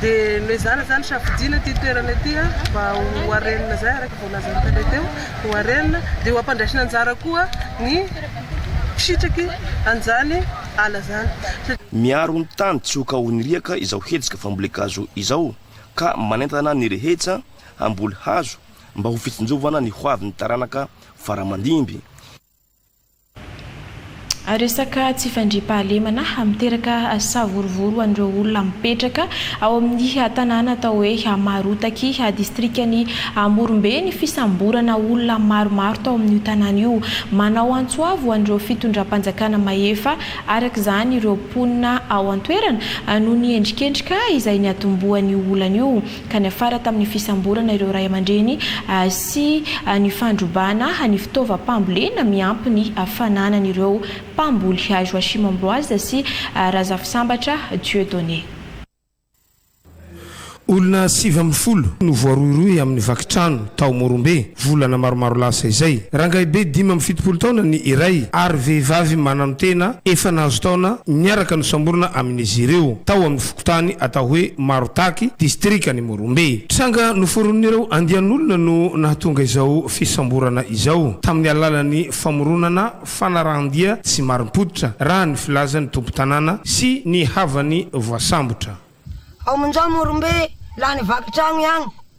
dia noezahana izany safidiana ity toerana ity mba ho harena izay araka ny voalazan'ny tale teo, ho harena dia ho ampandraisina anjara koa ny fisitraky an'izany ala izany. Miaro ny tany tsy ho kaohin'ny riaka izao hetsika fambolen-kazo izao ka manentana ny rehetsa hamboly hazo mba ho fitsinjovana ny hoavin'ny taranaka faramandimby. Resaka tsy fandriampahalemana miteraka savorovoro ho an'ireo olona mipetraka ao amin'ny tanàna atao hoe Marotaky, distrikan'i Morombe ny fisamborana olona maromaro tao amin'io tanàna io. Manao antso avo ho an'ireo fitondram-panjakana mahefa araka izany ireo mponina ao an-toerana noho ny endrikendrika izay niatombohan'io olana io. ka niafara tamin'ny fisamborana ireo ray aman-dreny sy ny fandrobana ny fitaovam-pambolena miampy ny fananan'ireo mpamboly Joachim Ambroise sy Razafisambatra Dieudonné. Olona sivy ambin'ny folo no voarohirohy amin'ny vaky trano tao Morombe, volana maromaro lasa izay. Rangahibe dimy amby fitopolo taona ny iray ary vehivavy mananotena efa nahazo taona niaraka nosamborina amin'izy ireo tao amin'ny. fokontany atao hoe Marotaky, distrikan'i Morombe. Tranga noforonin'ireo andian'olona no nahatonga izao fisamborana izao, tamin'ny alalan'ny famoronana fanarahan-dia tsy marim-pototra, raha ny filazan'ny tompon-tanàna sy ny havan'ny voasambotra. Ao Monja Morombe, lany vaky trano ihany.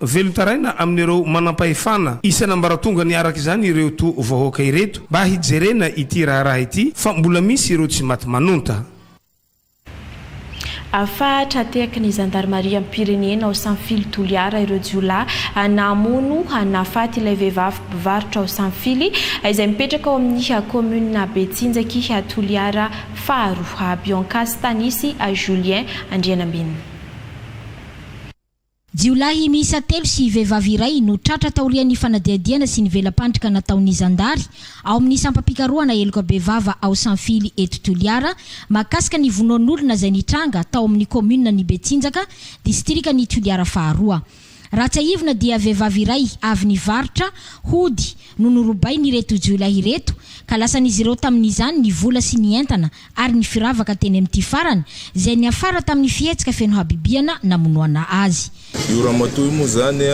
Velon-taraina amin'ireo manampahefana isan'ambaratongany araka izany ireo to vahoaka ireto mba hijerena ity raharaha ity fa mbola misy ireo tsy maty manonta. Afa tra-tehaky ny zandarimariam-pirenena ao Sanfily Toliara ireo jiolahy namono nahafaty ilay vehivavy mpivarotra ao Sanfily izay mipetraka ao amin'ny kaominina Betsinjaky Toliara faharoa, Bianca Stanisy Julien Andrianambinina. Jiolahy miisa telo sy vehivavy iray no tratra taorian'ny fanadihadiana sy ny vela-pandrika nataon'ny zandary ao amin'ny sampam-pikarohana heloka bevava ao Sanfily eto Toliara mahakasika ny vonoan'olona izay nitranga tao amin'ny kaominina ny Betsinjaka, distrikan'i Toliara faharoa. Raha tsiahivina dia vehivavy iray avy nivarotra hody no norobain'ireto jiolahy ireto ka lasan'izy ireo tamin'izany ny vola sy ny entana ary ny firavaka teny amin'ity farany izay niafara tamin'ny fihetsika feno habibiana namonoana azy. Io ramatoa io moa zany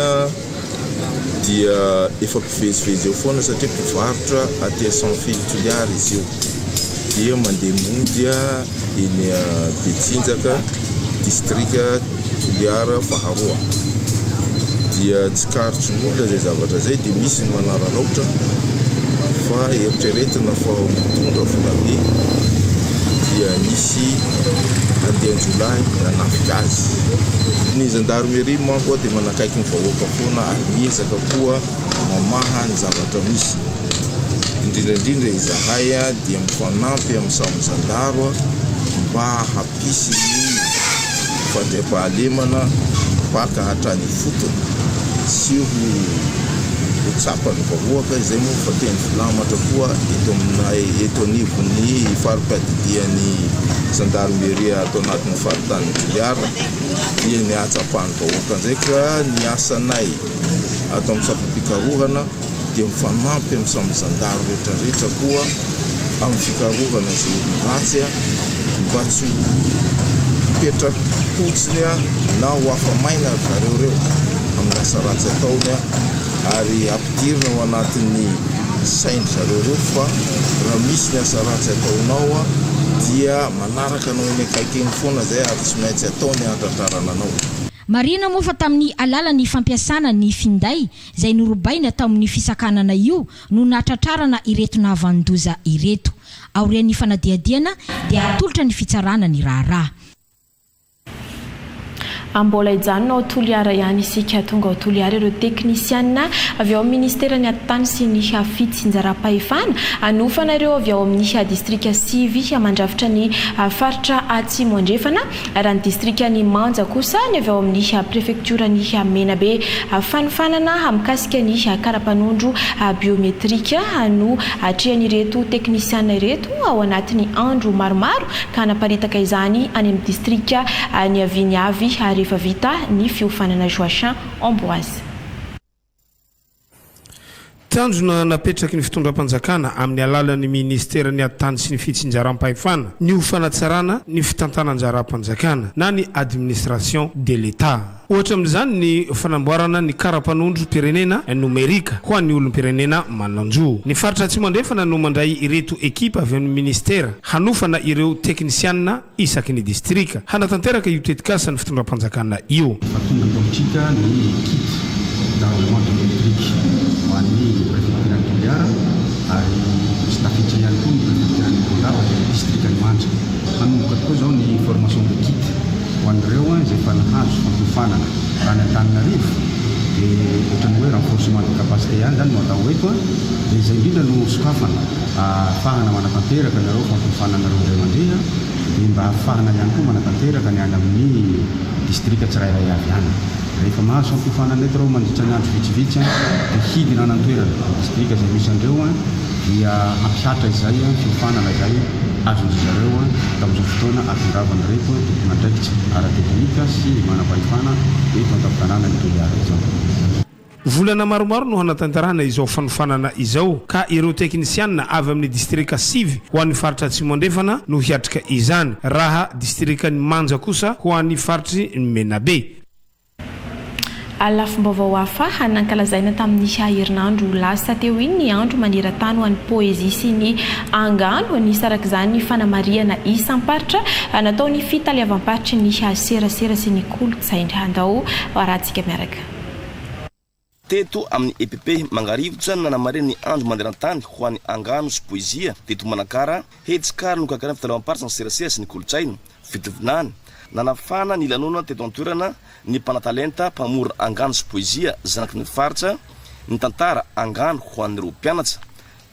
dia efa mpivezivezy eo foana satria mpivarotra aty à San Fil Toliara izy io dia mandeha mody eny Betsinjaka, distrika. Toliara faharoa dia tsikaritry ny olona izay zavatra izay dia misy ny manararaotra fa eritreretina fa mitondra volabe dia nisy andian-jiolahy nanafika azy. Ny zandarmeria manko dia manakaiky ny vahoaka foana ary miezaka koa mamaha ny zavatra misy. Indrindra indrindra izahay dia mifanampy amin'ny samy zandaro mba Hisy ny fandriampahalemana baka hatrany ifotony sy ho ho tsapan'ny vahoaka izay moa fa teny filamatra koa eto aminay eto anivon'ny fari-piadidian'ny zandarmeria ato anatin'ny faritanin'i Toliara dia ny hahatsapan'ny vahoaka ndraika ny asanay ato amin'ny sampam-pikarohana dia mifanampy amin'ny samy zandary rehetra rehetra koa amin'ny fikarohana izay olona ratsy mba tsy ho hipetra-potsiny na ho afa-maina ry zareo ireo amin'ny asa ratsy ataony ary ampidirina ao anatin'ny sain-dry zareo ireo fa raha misy ny asa ratsy ataonao dia manaraka anao eny akaiky eny foana izay ary tsy maintsy atao ny hahatratrarana anao. Marihina moa fa tamin'ny alalan'ny fampiasana ny finday izay norobaina tao amin'ny fisakanana io no nahatratrarana ireto nahavanon-doza ireto. Aorian'ny fanadihadiana dia hatolotra ny fitsarana ny raharaha. A Mbola hijanona ao Toliara ihany isika. Tonga ao Toliara ireo teknisiana avy ao amin'ny Ministeran'ny Atitany sy ny Fitsinjaram-pahefana hanofana ireo avy ao amin'ny distrika sivy mandrafitra ny faritra Atsimo Andrefana Raha ny distrikan'i Manja kosa, ny avy ao amin'ny prefektioran'i Menabe, fanofanana mikasika ny kara-panondro biometrika no atrehan'ireto teknisiana ireto ao anatin'ny andro maromaro ka hanaparitaka izany any amin'ny distrika niaviany avy rehefa vita ny fiofanana Joachim Ambroise. Tanjona napetraky ny fitondram-panjakana amin'ny alalan'ny Ministeran'ny Ady Tany sy ny Fitsinjaram-pahefana ny ho fanatsarana ny fitantanan-jaram-panjakana na ny Administration de l'Etat. Ohatra amin'izany ny fanamboarana ny kara-panondrom-pirenena nomerika ho an'ny olom-pirenena manan-jo. Ny Faritra Atsimo Andrefana no mandray ireto ekipa avy amin'ny Ministera hanofana ireo teknisianina isaky ny distrika, hanatanteraka io tetikasa ny fitondram-panjakana io. Efa tonga politika ny kit d'armement de l'électrique ho an'ny prefektiran'i Toliara ary tsy tafiditra ihany koa ny prefektiran'i Morondava dia ny distrikan'i Manja. Hanomboka tokoa izao ny formation de kit ho an'ireo izay efa nahazo fampiofanana. Raha ny Antananarivo dia ohatran'ny hoe renforcement de capacité ihany izany no atao eto dia izay indrindra no sokafana. Ahafahana manatanteraka anareo fampiofanana anareo indray mandeha an, dia mba ahafahana ihany koa manatanteraka ny any amin'ny distrika tsirairay avy any. Rehefa mahazo fampiofanana eto ireo mandritra ny andro vitsivitsy an, dia hidina any an-toerana, ny distrika izay misy an'ireo an, dia hampihatra izay an, fiofanana izay azon-dry zareo an, tamin'izao fotoana atondravan'ireto an, tompon'andraikitra ara-teknika sy manam-pahefana eto an-tampon-tanànan'i Toliara izao. Volana maromaro no hanatanterahana izao fanofanana izao ka ireo teknisianina avy amin'ny distrika sivy ho an'ny faritra Atsimo Andrefana no hiatrika izany, raha distrikan'i Manja kosa ho an'ny faritry ny Menabe. Ary lafim-baovao hafa nankalazaina tamin'ny herinandro lasa teo iny ny andro maneran-tany ho an'ny poezia sy ny angano, nisarak'izany fanamarihana isam-paritra nataon'ny fitaleavam-paritry ny serasera sy ny kolontsaina. Andao harahantsika miaraka. Teto amin'ny EPP Mangarivotra no nanamarina ny Andro maneran-tany ho an'ny angano sy poezia teto Manakara, hetsika ary nokarakarain'ny fitaleavam-paritra ny serasera sy ny kolontsaina, fitovinany. Nanafana ny lanonana teto an-toerana ny mpanatalenta mpamora angano sy poezia zanaky ny faritra nitantara angano ho an'ireo mpianatra.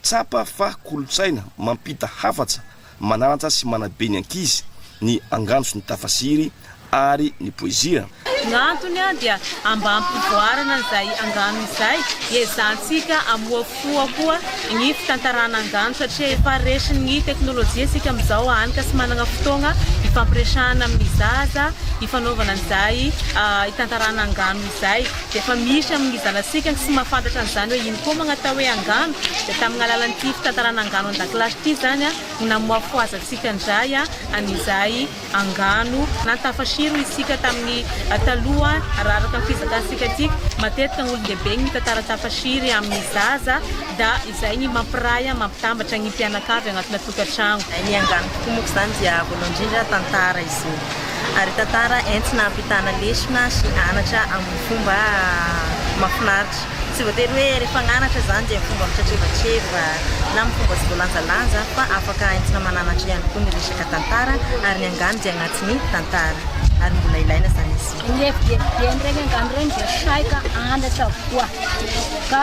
Tsapa fa kolontsaina mampita hafatra, mananatra sy manabe ny ankizy ny angano sy ny tafasiry ary ny poezia. No antony dia ambam-pivoarana izay angano izay, iezahantsika amohafoha koa ny fitantarana angano satria efa resin'ny teknolojia isika amin'izao hany ka tsy manana fotoagna hifampiresahana amin'ny zaza hifanaovana an'izay hitantarana angano izay. Efa misy amin' ny zanatsika ny tsy mahafantatra an' izany hoe ino koa moa ny atao hoe angano, dia tamin' ny alalan' ity fitantarana angano an-dakilasy ity izany no namoafoazantsika indray an' izay angano nantafasiro isika tamin' ny taloha raha araka ny fizakantsika aty matetika ny olon-dehibe ny mitantara tafasiry amin' ny zaza da izay ny mampiray an' mampitambatra ny mpianakavy anatina tokantrano. Ny angano tokoa moa izany dia voalohany indrindra tantara izy io. ary tantara entina hampitana lesona sy anatra amin'ny fomba mahafinaritra. Tsy voatery hoe rehefa agnanatra izany dia fomba mitretreva-treva na amin'ny fomba tsy voalanjalanja fa afaka entina mananatra ihany koa ny resaka tantara ary ny angano dia agnatin'ny tantara ary mbola ilaina izany izy io. Ny fdfdm regny angano regny dia saika anatra avokoa ka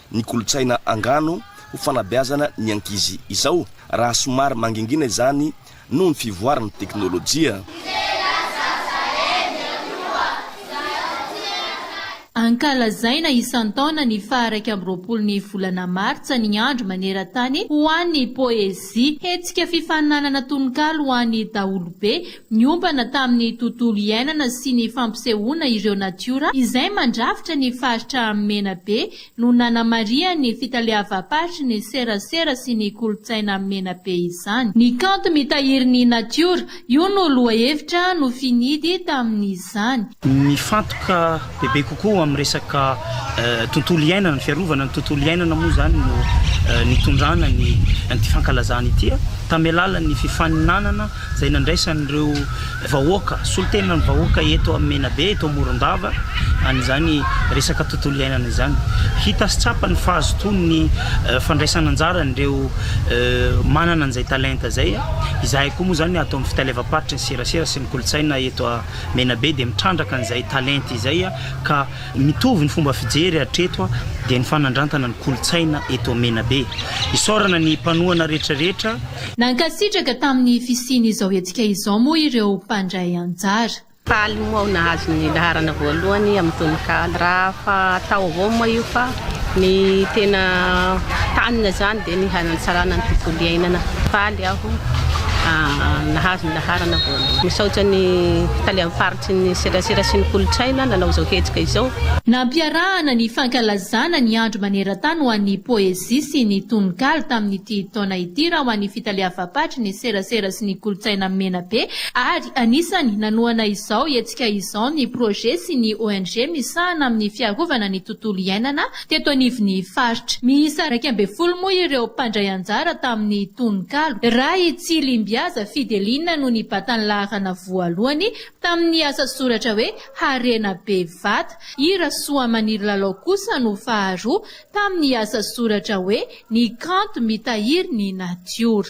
ny kolontsaina angano ho fanabeazana ny ankizy izao raha somary mangingina izany noho ny fivoaran'ny teknolojia. Ankalazaina isan-taona ny faha iraika amby roapolo ny volana martsa ny andro maneran-tany ho an'ny poezia. Hetsika fifaninanana tononkalo ho an'ny daholobe niompana tamin'ny tontolo iainana sy ny fampisehoana ireo natiora izay mandrafitra ny faritra Menabe no nanamarihan'ny fitaleavam-paritry ny serasera sy ny kolontsaina Menabe izany. Ny kanto mitahiry ny natiora, io no lohahevitra nofinidy tamin'izany. Mifantoka bebe kokoa amin'ny resaka tontolo iainana, ny fiarovana ny tontolo iainana moa izany no nitondrana ny an'ity fankalazana ity tamin'ny alalan'ny fifaninanana izay nandraisan'ireo vahoaka, solontenan'ny vahoaka eto amin'ny Menabe, eto Morondava, an'izany resaka tontolo iainana izany. Hita sy tsapa ny fahazotoan'ny fandraisana anjaran'ireo manana an'izay talenta izay. Izahay koa moa izany ato amin'ny Fitaleavam-paritry ny Serasera sy ny Kolontsaina eto. Menabe dia mitrandraka an'izay talenta izay ka mitovy ny fomba fijery hatreto dia ny fanandrantana ny kolontsaina eto Menabe. Isaorana ny mpanohana rehetra rehetra. Nankasitraka tamin'ny fisian'izao hetsika izao moa ireo mpandray anjara. Faly moa aho nahazo ny laharana voalohany amin'ny tononkalo. Raha fa atao avao moa io fa. Ny tena tanina izany dia ny hanatsarana ny tontolo iainana. Faly aho nahazo ny laharana voalohany. Misaotra ny Talehan'ny faritry ny serasera sy ny kolontsaina nanao izao hetsika izao. Nampiarahana ny fankalazana ny andro maneran-tany ho an'ny poezia sy ny tononkalo tamin'ity taona ity raha ho an'ny fitaleavam-paritry ny serasera sy ny kolontsaina Menabe ary anisany nanohana izao Niatrika izao ny Projet sy ny ONG misahana amin'ny fiarovana ny tontolo iainana teto anivon'ny faritra. Miisa iraika ambin'ny folo moa ireo mpandray anjara tamin'ny tononkalo. Ray Tsilimbihaza Fideline no nibata ny laharana voalohany tamin'ny asa soratra hoe Harena be vata. I Rasoamaniry Lalao kosa no faharoa tamin'ny asa soratra hoe Ny kanto mitahiry ny natiora.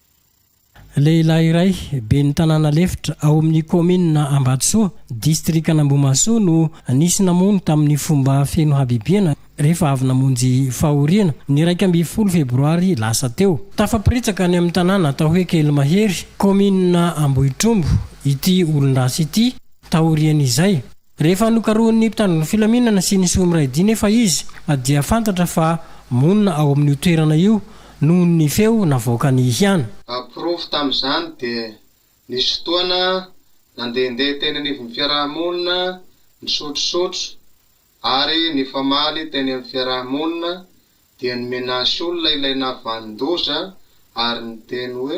Lehilahy iray, ben'ny tanàna lefitra ao amin'ny kaominina Ambatosoa, distrikan'Ambohimahasoa no nisy namono tamin'ny fomba feno habibiana rehefa avy namonjy fahoriana, ny iraika ambin'ny folo febroary lasa teo. Tafaporitsaka any amin'ny tanàna atao hoe Kelimahery, kaominina Ambohitrombo ity olon-dratsy ity taorian'izay. Rehefa nokarohin'ny mpitandro ny filaminana sy ny Soamiraidi nefa izy dia fantatra fa monina ao amin'io toerana io noho ny feo navoakany ihany. Porofo tamin'izany dia nisy fotoana nandehandeha teny anivon'ny fiaraha-monina nisotrosotro ary nifamaly teny amin'ny fiaraha-monina dia ny menace olona ilay nahavanon-doza ary niteny hoe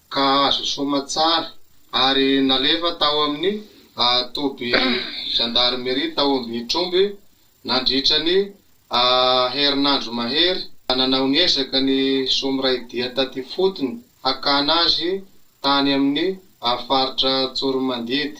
ka azo soamantsara ary nalefa tao amin'ny toby zandarimeria tao Ambihitromby nandritra ny herinandro mahery. Nanao ny ezaka ny soa miray dia taty ifotony hakana azy tany amin'ny faritra Tsoromandidy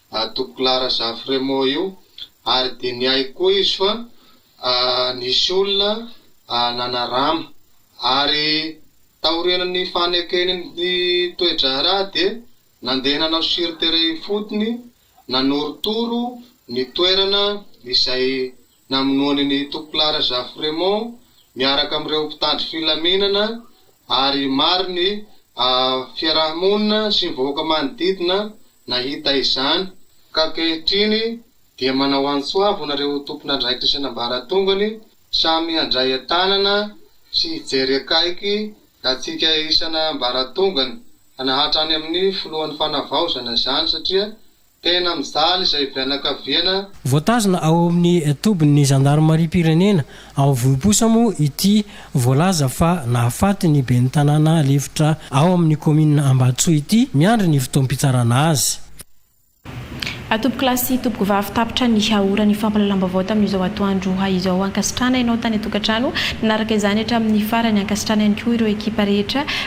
ato Clarazafy Remo io ary dinihaiko koa izy fa nisy olona nanarama ary taorian'ny fanekeny ny toe-draharaha dia nandeha nanao sur terrain ifotony nanorotoro ny toerana izay Namonoany ny Topla Rajafo Raymond miaraka amin'ireo mpitandro filaminana ary maro ny fiaraha-monina sy ny vahoaka manodidina nahita izany, ka ankehitriny dia manao antso avo anareo tompon'andraikitra sy an'ambaratongany samy handray an-tanana sy hijery akaiky antsika isan'ambaratongany hanahatra any amin'ny filohan'ny fanavaozana izany satria Tena mijaly izay fianakaviana. Voatazona ao amin'ny tobin'ny zandarimariam-pirenena ao Vohiposa moa ity voalaza fa nahafaty ny ben'ny tanàna lefitra ao amin'ny kaominina Ambatosoa ity, miandry ny fotoam-pitsarana azy. Atompokolahy sy tompokovavy tapitra ny haora ny fampahalalam-baovao tamin'izao atoandro izao. Ankasitrahana ianao tany an-tokantrano nanaraka izany hatramin'ny farany. Ankasitrahana ihany koa ireo ekipa rehetra